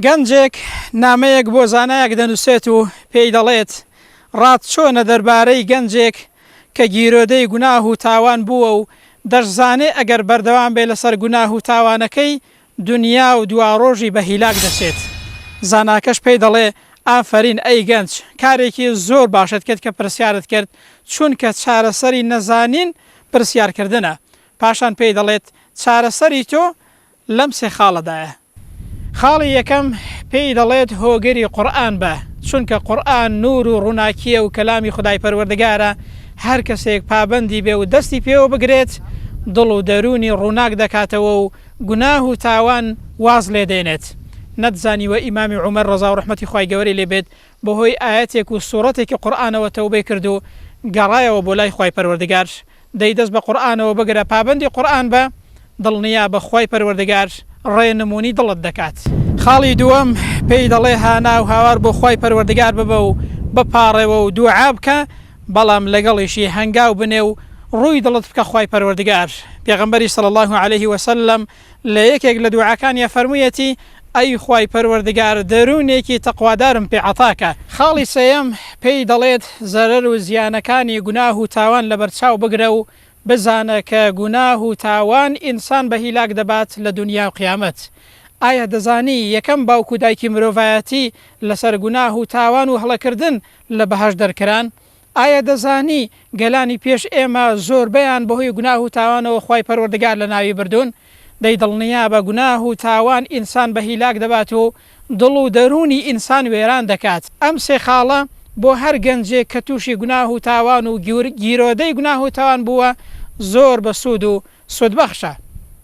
گەنجێک نامەیەک بۆ زانایەک دەنووسێت و پێی دەڵێت، ڕات چۆنە دەربارەی گەنجێک کە گیرۆدەی گوناه و تاوان بووە و دەشزانێ ئەگەر بەردەوام بێ لەسەر گوناه و تاوانەکەی، دونیا و دواڕۆژی بە هیلاک دەچێت؟ زاناکەش پێی دەڵێ، ئافەرین ئەی گەنج، کارێکی زۆر باشت کرد کە پرسیارت کرد، چونکە چارەسەری نەزانین پرسیارکردنە. پاشان پێی دەڵێت، چارەسەری تۆ لەم سێ خاڵەدایە. خاڵی یەکەم، پێی دەڵێت هۆگری قورئان بە، چونکە قورئان نوور و ڕووناکییە و کەلامی خودای پەروەردگارە، هەر کەسێک پابەندی بێ و دەستی پێوە بگرێت، دڵ و دەروونی ڕووناک دەکاتەوە و گوناه و تاوان واز لێ دێنێت. نەتزانیوە ئیمامی عومەر ڕەزا و ڕەحمەتی خوای گەوەری لێ بێت بەهۆی ئایەتێک و سوڕەتێکی قورئانەوە تەوبەی کرد و گەڕایەوە بۆ لای خوای پەروەردگار دەی دەست بە قورئانەوە بگرە پابەندی قورئان بە، دڵنیابە خوای پەروەردگار ڕێ نمونی دڵت دەکات. خاڵی دووەم، پێی دەڵێ هانا و هاوار بۆ خوای پەروەردگار ببە و بپاڕێوە و دوعا بکە، بەڵام لەگەڵیشی هەنگاو بنێ و ڕووی دڵت بکە خوای پەروەردگار، پێغەمبەری صلی اللە علیه وسلم، لە یەکێک لە دوعاکانی فەرموویەتی، ئەی خوای پەروەردگار دەروونێکی تەقوادارم پێ عەتاکە. خاڵی سێیەم، پێی دەڵێت، زەرەر و زیانەکانی گوناه و تاوان لەبەرچاو بگرە و بزانە کە گوناه و تاوان ئینسان بە هیلاک دەبات لە دونیا و قیامەت. ئایا دەزانی یەکەم باوک و دایکی مرۆڤایەتی لەسەر گوناه و تاوان و هەڵەکردن لە بەهەشت دەرکران؟ ئایا دەزانی گەلانی پێش ئێمە زۆربەیان بەهۆی گوناه و تاوانەوە خوای پەروەردگار لەناوی بردوون؟ دەی دڵنیابە گوناه و تاوان ئینسان بە هیلاک دەبات و دڵ و دەروونی ئینسان وێران دەکات. ئەم سێ خاڵە بۆ هەر گەنجێک کە تووشی گوناه و تاوان و گیرۆدەی گوناه و تاوان بووە زۆر بەسوود و سوودبەخشە.